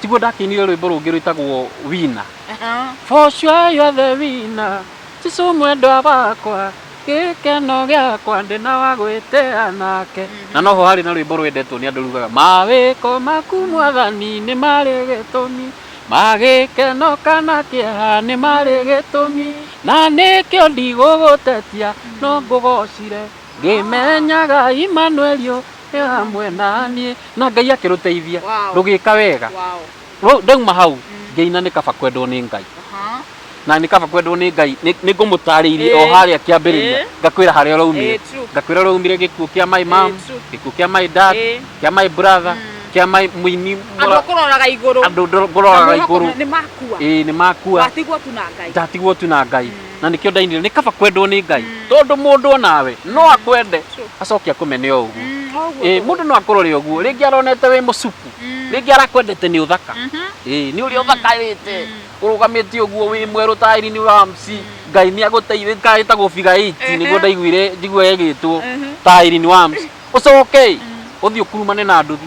tiguo ndakĩinire rwĩmbo rũngĩ rwĩtagwo wina for sure you are the winner Jesu mwendwa wakwa gĩkeno gĩakwa ndĩ na wa gwĩtĩa nake na noho harĩ na rwĩmbo rwendetwo nĩ andũ rugaga mawĩko maku mwathani nĩ marĩ gĩtũmi magĩkeno kana kĩeha nĩ marĩ gĩtũmi na nĩkĩo ndigũgũtetia no ngũgocire ngĩmenyaga Imanueli ĩ Wow. hamwe naniĩ na ngai akĩrũteithia Wow. rũgĩka wega Wow. Rũ- ndauma hau ngĩina nĩ kaba kwendwo nĩ ngai Aha. na nĩ kaba kwendwo nĩ ngai nĩ nĩ ngũmũtarĩirie o Ĩĩ. harĩa kĩambĩrĩria Ĩĩ. ngakwĩra harĩa ũraumire Ĩĩ, true. ngakwĩra ũraumire gĩkuũ kĩa my mam Ĩĩ, true. gĩkuũ kĩa my dad Ĩĩ. kĩa my brother kĩa my mũini Andũ mũra- akũroraga igũrũ. andũ ndoro- ngũroraga Andũ igũrũ nĩ makua. ĩĩ nĩ makua Watigwo tu na Ngai. ndatigwo tu na ngai na nĩkĩo ndainire nĩ kaba kwendwo nĩ ngai tondũ mũndũ onawe no akwende acoke akũmene o ũguo Mm, o ũguo Ĩĩ, tũgũthiĩ. mũndũ no akũrore ũguo rĩngĩ aronete wĩ mũcuku rĩngĩ arakwendete nĩ ũthaka Ĩĩ, nĩ ũrĩa ũthakarĩte ũrũgamĩte ũguo wĩ mwerũ taĩri-inĩ wa mci ngai nĩ agũteithĩtie kaĩ ta gũbiga iti nĩguo ndaiguire njigua yagĩtwo taĩri-inĩ wa mci ũcoke ũthiĩ ũkurumane na nduthi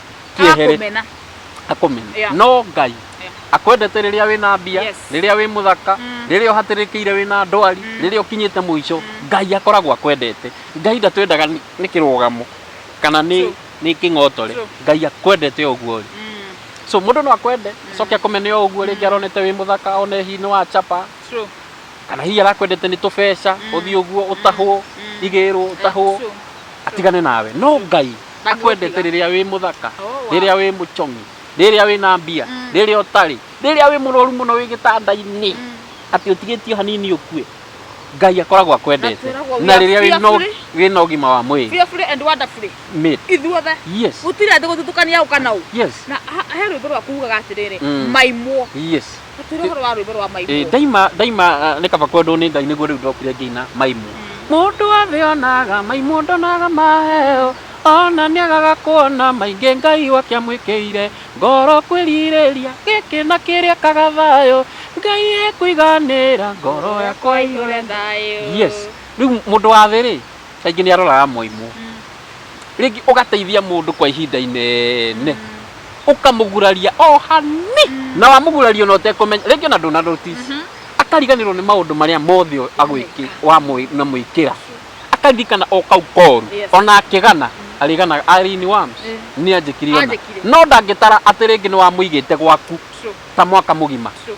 kĩehere Akũmena. akomena Yeah. no ngai Yeah. akwendete rĩrĩa wĩna mbia Yes. rĩrĩa wĩ mũthaka Mm. rĩrĩa ũhatĩrĩkĩire wĩna ndwari rĩrĩa ũkinyĩte mũico ngai akoragwo akwendete ngai ndatwendaga nĩ nĩ kĩrũgamo kana nĩ True. nĩ kĩng'otore True. ngai akwendete o ũguo ũrĩ Mm, so mũndũ no akwende coke akomene o ũguo rĩngĩ aronete wĩ mũthaka one hihi nĩ wa chapa true. kana hihi arakwendete nĩ tũbeca Mm. ũthiĩ ũguo ũtahwo Mm. igĩrwo ũtahwo True. atigane nawe no ngai akwendete rĩrĩa wĩ mũthaka Oh, wow. rĩrĩa wĩ mũcong'i rĩrĩa wĩ na mbia Mm. rĩrĩa ũtarĩ rĩrĩa wĩ mũrwaru mũno wĩ gĩtanda-inĩ Mm. atĩ ũtigĩtio hanini ũkue ngai akoragwo akwendete Na twĩragwo we na are rĩrĩa wĩ na- fearfully. wĩ na ũgima wa mwĩrĩ fearfully and wonderfully Mate. ithuothe yes gũtirĩ andũ gũthutũkania ũka na ũ yes na ha- he rwĩmbo rwakugaga atĩrĩrĩ Mm. maimwo yes Tũtwĩre ũhoro wa rwĩmbo rwa Ĩ, maimũ. ndaima ndaima ah, nĩ kaba kwendwo nĩ ngai nĩguo rĩu ndokire ngĩina maimũ mũndũ wothe onaga maimũ ndonaga maheo ona nĩagaga kuona maingĩ ngai wake amwĩkĩire ngoro kwĩrirĩria gĩkĩ na kĩrĩa kaga thayũ ngai ekũiganĩra ngoro yakwa ĩihũre thayũ yes rĩu mũndũ wa thĩ rĩ kaingĩ nĩ aroraga moimũ rĩngĩ ũgateithia mũndũ kwa ihinda inene ũkamũguraria o hani na wamũguraria ona ũtekũmenya rĩngĩ ona ndũna notice akariganĩrwo nĩ maũndũ marĩa mothe agwĩkĩ wamwĩkĩra akaririkana o kau koru Yes. ona akĩgana arĩganaga arĩini wa Eh. nĩ anjĩkire ona Anjĩkire. no ndangĩtara atĩ rĩngĩ nĩ wamũigĩte gwaku True, ta mwaka mũgima true.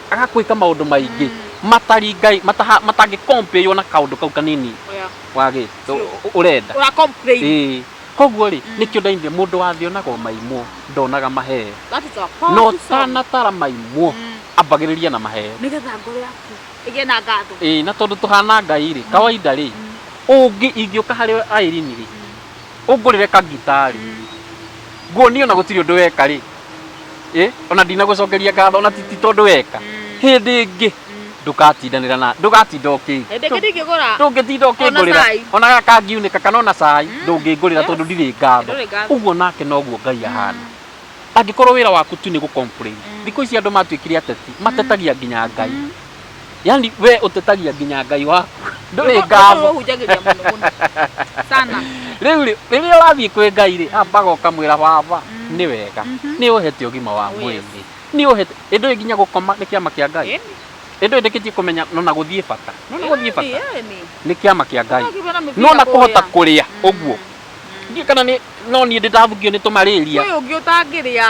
aga kwika maundu maingi matari ngai mataha- matangi compare na kaundu kau kanini Oya. wagi urenda Ura complain. Ĩĩ. koguo rĩ nĩkĩo ndainire mũndũ wathionaga o maimwo ndonaga maheo That is a no powerful song. tanatara maimwo Mm. ambagĩrĩria na maheo Nĩgetha ngoro yaku ĩgĩe na ngatho. Ĩĩ, na tondũ tũhana ngai rĩ kawaida rĩ ũngĩ ingĩũka harĩ airini rĩ ũngũrĩre kagitarĩ nguo niĩ ona gũtirĩ ũndũ weka rĩ ĩ ona ndinagũcokeria ngatho ona ti ti tondũ weka hĩndĩ ĩngĩ ndũgatindanĩra na ndũgatinda ũkĩ Hĩndĩ ĩngĩ ndingĩgũra. ndũngĩtinda Ona ũkĩngũrĩra cai. ona gakangiunĩka kana ona cai ndũngĩngũrĩra tondũ ndirĩ ngatho Ndũrĩ ngatho. ũguo nake noguo ngai ahana angĩkorwo wĩra waku tu nĩ gũcomplain thikũ ici andũ matuĩkire ateti matetagia nginya ngai yani we utetagia nginya ngai waku nduri Nĩguo- nĩguo ngatho ũhunjagĩria mũno mũno sana riu ri riria wathii kwi ngai ri ambaga ukamwira baba Mm. ni wega Mhm. ni uhete ugima wa Oh, yes. mwiri ni uhete indu nginya gukoma ni kiama kia ngai Ĩni, indu ndikitie kumenya nona guthii bata nona guthii ĩni, bata ĩni. ni kiama kia ngai Ũtakĩrwo na mĩbira nona kuhota kũrĩa. kuria Mm, uguo mm. ndiä kana nä no niä ndä ndavugio nä tå marä ria Kwĩ ũngĩ ũtangĩrĩa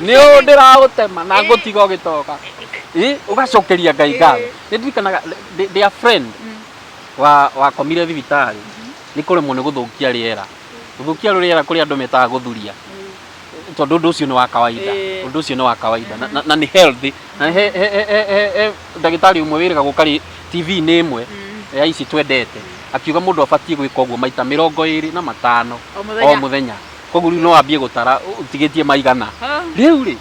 nä å ndä ragå tema na ngå tiga å gä toka å gacokeria ngai ngatho nä ndirikanaga ndä- ndä a friend wa wakomire thibitarĩ nĩ kũremwo nĩ gũthũkia rĩera gũthũkia rĩera kũrĩ andũ metaga gũthuria tondũ ũndũ ũcio nĩ wa kawaida Ĩĩ. ũndũ ũcio nĩ wa kawaida na- na- na nĩ healthy na he- he- he- he- he- he ndagĩtarĩ ũmwe wĩrĩga gũkarĩ tv-inĩ ĩmwe ya ici twendete akiuga mũndũ abatiĩ gwĩka ũguo maita mĩrongo ĩrĩ na matano o mũthenya. o mũthenya koguo rĩu no wambie gũtara ũtigĩtie maigana Ah. rĩu rĩ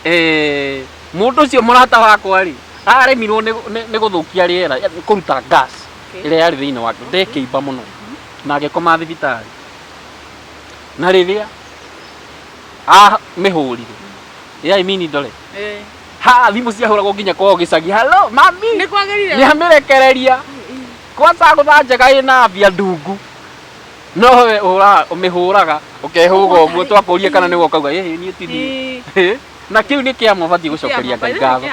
eh, mũndũ ũcio mũrata wakwa rĩ aremirwo nĩ- nĩ- nĩ gũthũkia rĩera eh, kũruta gas Okay. ĩrĩa yarĩ thĩinĩ wake ndekĩimba mũno na agĩkoma thibitarĩ na rĩrĩa a mĩhũrire ya imini ndore Eh. ha thimũ ciahũragwo nginya kwao gĩcagi halo mami Nĩ kwagĩrire. nĩamĩrekereria kwanza gũthanjaga ĩna mbia ndungu No we ũhũraga ũmĩhũraga ũkehũga ũguo twakũrie kana nĩwe ũkauga ĩ niĩ ti niĩ. Ii. Ĩ, na kĩu nĩ kĩama ũbatiĩ gũcokeria ngai ngatho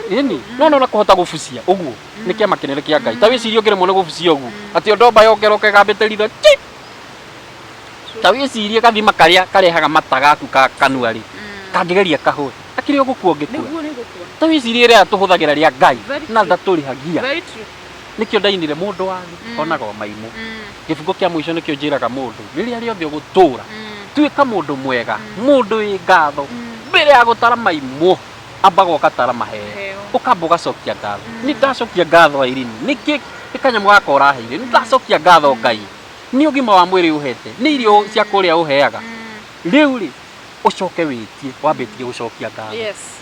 ĩni no no na kũhota gũbucia ũguo nĩ kĩama kĩnene kĩa ngai ta wĩcirie ũngĩremwo nĩ gũbucia ũguo atĩ o ndomba yongeroka ĩgambĩte ritho ki ta wĩcirie gathima karĩa karehaga mata gaku ka kanua rĩ kangĩgeria kahũe akĩrĩ o gũkua ũngĩkua ta wĩcirie rĩrĩa tũhũthagĩra rĩa ngai Very na true. ndatũrĩhagia nĩkĩo ndainire mũndũ wanyu Mm. onaga o maimũ Mm. gĩbungo kĩa mũico nĩkĩo njĩraga mũndũ rĩrĩa rĩothe ũgũtũũra Mm. tuĩka mũndũ mwega Mm. mũndũ wĩ ngatho Mm. mbere ya gũtara maimũ ambaga ũgatara maheo Heo. ũkamba ũgacokia ngatho Mm. nĩ ndacokia ngatho airini nĩkĩ nĩ kanyamũ gaka ũraheire nĩ ndacokia ngatho ngai nĩ ũgima wa mwĩrĩ ũhete nĩ irio cia kũrĩa ũheaga Mm. rĩu rĩ ũcoke wĩtie wambĩtie gũcokia ngatho Yes.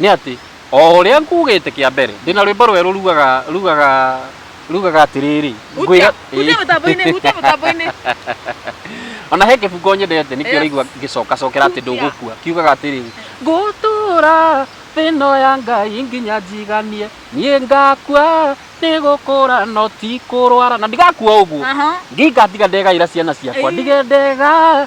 Nĩ atĩ, o ũrĩa nguugĩte kĩa mbere, ndĩ na rwĩmbo rwerũ rugaga, rugaga, rugaga atĩrĩrĩ, Hutia, ngwĩra... hutia mũtambo-inĩ, hutia mũtambo-inĩ. O na he kĩbungo nyendete nĩkĩo Yes. ũraigua ngĩcokacokera atĩ Hutia. ndũgũkua, kiugaga atĩrĩrĩ, ngũtũũra thĩ ĩno ya Ngai nginya njiganie, niĩ ngakua nĩ gũkũra no ti kũrwara, na ndigakua ũguo, Aha. ngatiga ndegaĩra ciana ciakwa, Ĩĩ. ndige ndega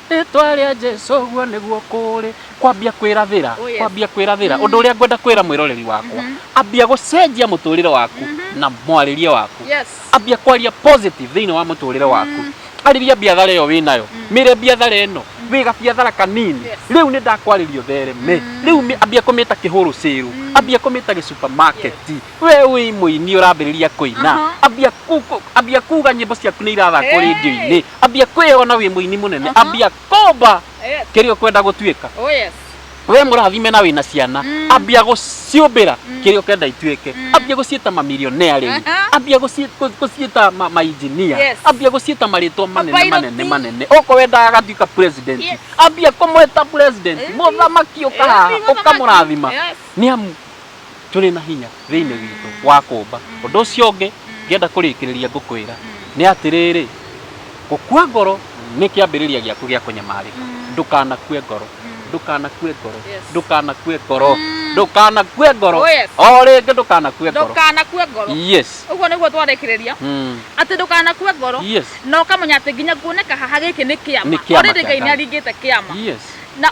Rĩtwa rĩa Jesu ũguo nĩguo kũrĩ. Kwambia kwĩrathĩra, Oh, yes. kwambia kwĩrathĩra. Ũndũ ũrĩa ngwenda kwĩra mwĩroreri wakwa, ambia gũcenjia mũtũrĩre waku na mwarĩrie waku. Yes. Ambia kwaria positive thĩinĩ wa mũtũrĩre waku. Arĩria biathara ĩyo wĩ nayo. Mĩre biathara ĩno, wĩ gabiathara kanini. Yes. Rĩu nĩ ndakwarĩria ũthereme. Rĩu mĩ- ambia kũmĩta kĩhũrũ sale, ambia kũmĩta gĩ supermarket. we wĩ mũini ũrambĩrĩria kũina Aha. ambia ku- ku- ambia kuga nyĩmbo ciaku nĩ irathakwo Hey. rĩndio-inĩ ambia kwĩyona wĩ mũini mũnene Aha. ambia komba Yes. kĩrĩa ũkwenda gũtuĩka Oh yes. we mũrathime na wĩna ciana Mm. ambia gũciũmbĩra Mm. kĩrĩa ũkenda ituĩke Mm. ambia gũciĩta mamilionea rĩu Aha. ambia gũci- gũ- gũciĩta ma- mainjinia Yes. ambia gũciĩta marĩtwa manene Mapiloti. manene manene oko wendaga agatuĩka president Yes. ambia kũmwĩta president Eh, mũthamaki ũkahaha eh, mũthamaki. ũkamũrathima Yes. nĩ amu tũrĩ na hinya thĩinĩ witũ wa kũũmba. Ũndũ ũcio ũngĩ ngĩenda kũrĩkĩrĩria ngũkwĩra nĩ atĩrĩrĩ, gũkua ngoro nĩ kĩambĩrĩria gĩaku gĩa kũnyamarĩka. Ndũkanakue ngoro, ndũkanakue ngoro, Yes. ndũkanakue ngoro, Mm. ndũkanakue ngoro, Oh, yes. o rĩngĩ ndũkanakue ngoro. ndũkanakue ngoro Yes. ũguo nĩguo twarĩkĩrĩria Mm. atĩ ndũkanakue ngoro Yes. na ũkamenya atĩ nginya kuoneka haha gĩkĩ nĩ Nĩ kĩama kĩama Already kĩa ngai nĩ Ngai. aringĩte kĩama Yes. na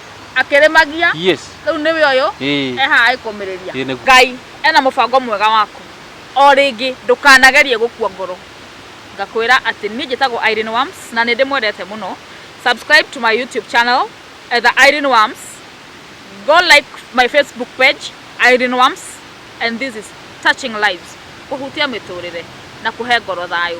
akĩrĩmagia Yes. rĩu nĩwe ũyũ Ĩĩ. eha agĩkũmĩrĩria Ĩĩ, nĩguo. ngai ena mũbango mwega waku o rĩngĩ ndũkanagerie gũkua ngoro ngakwĩra atĩ niĩ njĩtagwo Irene Worms na nĩ ndĩmwendete mũno subscribe to my YouTube channel etha Irene Worms go like my Facebook page Irene Worms and this is touching lives kũhutia mĩtũrĩre na kũhe ngoro thayũ